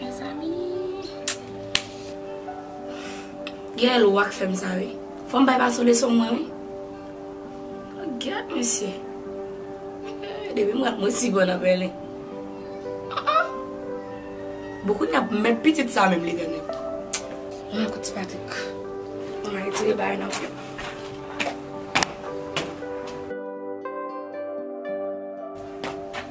Mezanmi Gaëlle ou ak fèm sa wi Fòm bay Patsou leson mwen wi Gad mesye Depi m rap mwen si bon nan Berlin Bon kounya menm pitit sa menm li renmen Bon ekot ti Patrick Bon m al retire bagay nan men m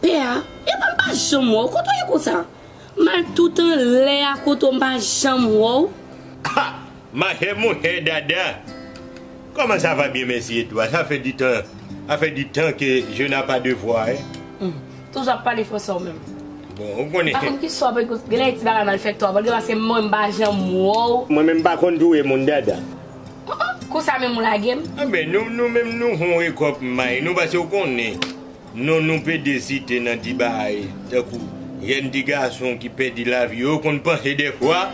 Pè a, Epa m pa janm wè w, kote w ye konsa? M al tout anlè a kote w m pa janm wè w. Ha! Ma chè monchè Dada! Kòman sa va byen mèsi e tou a? Sa fè di tan, sa fè di tan ke je na pa de vwa e. Hum! Toujou ap pale fransè ou menm. Bon, ou konnen. M pa konn ki swa pou ekri, genlè e ti bagay mal fèt tou a, vòlge paske mwen m pa janm wè w. Mwen menm m pa konn touye moun Dada. Hum! Konsa menm ou lage m? Anben, nou menm nou fon rekò p may nou pase ou konnen Non nou pede site nan di baay tankou jèn ti gason ki pèdi lavi yo konn panse dèfwa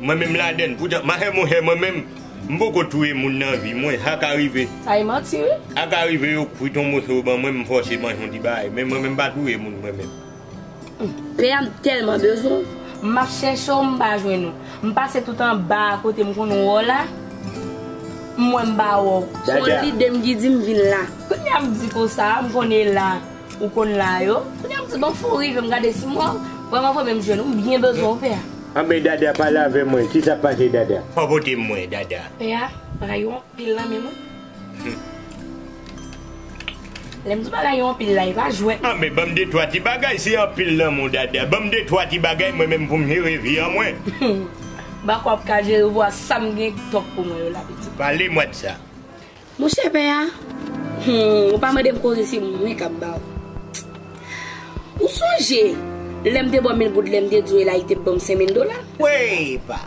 mwen menm ladann poutan mahè monchè mwen menm m poko touye moun nan vi mwen sa ka rive Sa e manti wi. sa ka rive yo kwit yon moso ban mwen m fòse manje yon ti baay men mwen menm m pa touye moun mwen menm. Pè a m tèlman bezwen w. M ap chèche w m pa jwenn ou. M pase tout anba a kote m konn wè w la. M wè m pa wè w. Jaja. Son lide m ki di m vin la. Kounya m di konsa a m konn e la ou konn la yo. Kounya m di bon fè w rive m gade si mwen vrèman vrèman m jwenn ou. M byen bezwen w pè a. Anben Dada pale avè mwen. Kisa k pase Dada? Popote m mwen Dada. Pè a rayi w anpil nan menm w. Lèm di bagay yo anpil la e pa jwèt non. Anben banm de twa ti bagay se anpil lanmou dada banm de twa ti bagay mwen menm poum jere vi an mwen. Bak wap ka jere vwa sam gen top pou mwen yo la pitit. Pale mwa de sa. Monchè pè a humm ou pa mandem koze se mwen kap baw ou sonje lèm te baw mil goud lèm te diw elai te banm senmil dola. Weypa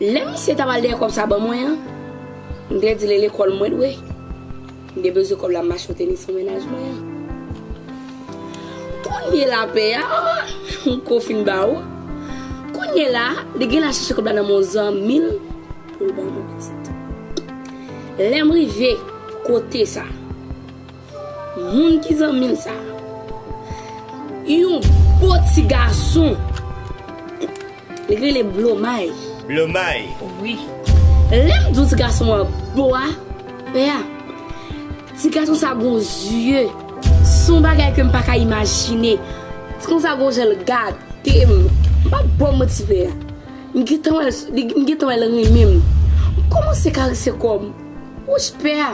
Lè misye tap al dèyè kòb sa ban mwen an, m te di l e lekòl mwen dwe, m te bezwen kòb la m achte tenis pou mennaj mwen an. Kounyela pè a, m ko fin ba ou, kounyela a li genlè al chèche kòb la nan men yon zanmi l pou l ban mwen pitit. Lè m rive kote sa. Moun ki zanmil sa. Yon bo ti gason. Li rele blomay. Blomay. Wi. Lem diw ti gason an bo a. Pè a. Ti gason sa gon zye. Son bagay kem paka imajine. Ti gason sa gon janl gadem. Pa bom manti pè a. M gentan wèl m gentan wèl renmenm. M komanse karese kom. Wouch pè a.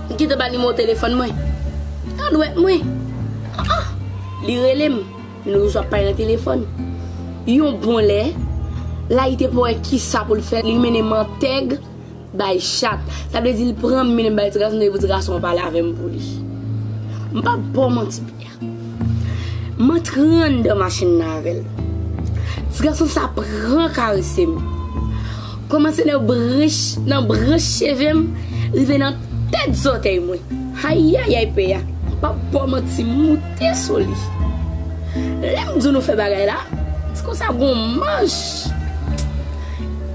M kite ba l nimewo telefòn mwen. Nan dwèt mwen. An an! Li rele m. Li nou reswa pay nan telefòn. Yon bon lè, Layite pa wè ki sa pou l fè, li mennen mantèg bay chat. Sa vle di li pran m mennen m bay ti gason, li pou ti gason an pale avè m pou li. M pap ba w manti Pyè. M antre anndan machin nan avè l. Ti gason sa pran karese m. Kòmanse nan branch nan branch cheve m rive nan tèt zòtèy mwen. Ayayay pè a, m pa p ba w manti m moute sou li. Lè m di w nou fè bagay la, se konsa gon manch.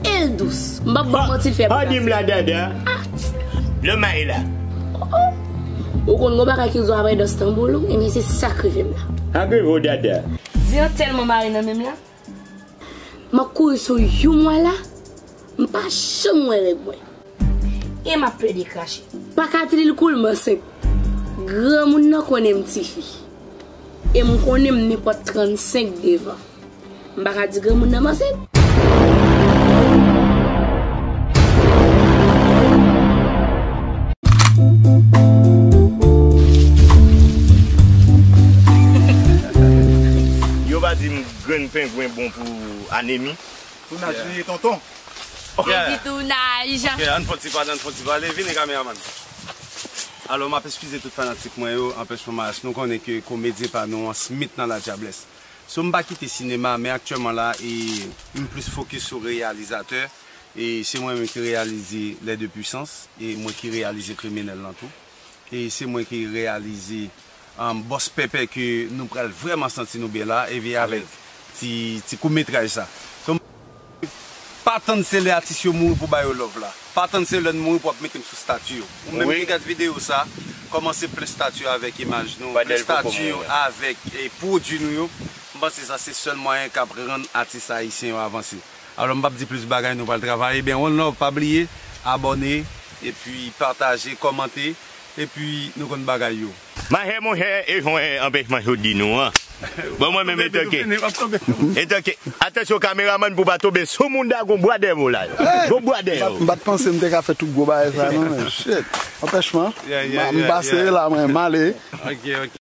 E l dous, m pa p ba w manti l fè plas. An di m la dada, lè m ale la. Ou konn gon bagay ki rizon aprè dans tanbou l ou ebyen se sak rive m la. Anpil vo dada. Di an tèlman mare nan menm la. M ap kouri sou you mwa la m pa janm wè règ mwen. E m ap plede krache. Pa ka di li l kou l m ansent. Granmoun nan konnen m tifi. E m konnen m nenpòt 35 devan. M pa ka di granmoun nan m ansent. Yo pa di m grenn pengwen bon pou anemi. Tounaj li ye tonton. Lady tounaj. Ok ann fon ti pale ann fon ti pale vini kameraman. Alò map eskize tout fanatik mwen yo anpèchman maryaj nou konnen ke komedyen pa nou an smit nan la dyablès. So m pa kite sinema men aktyèman la e m plis fokis sou reyalizatè e se mwen menm ki reyalize Les deux puissances e mwen ki reyalize kriminèl lan tou e se mwen ki reyalize Bòs Pèpè ke nou pral vrèman santi nou byen la e avèk ti kout metraj sa. Pa tann se lè atis yo mouri pou ba yo love la. Pa tann se lè n mouri pou ap mete m sou stati yo. Ou menm ki gad videyo sa, kòmanse plen stati yo avèk imaj nou, plen stati yo avèk pwodui nou yo. M panse sa se sèl mwayen k ap rann atis ayisyen yo avanse. Alò m p ap di plis bagay, nou pral travay. Ebyen one love, pa bliye abòne epi pataje, kòmante epi nou konn bagay yo. Mahè monchè e jhon e anpechman chou di nou an bon mwen menm etanke etanke atansyon kameramann pou pa tonbe sou moun da gon bwa dèvo la gon bwa dèvo. M pat panse m te ka fè tout gwo bagay sa non men shit anpèchman m pase la mwen m ale.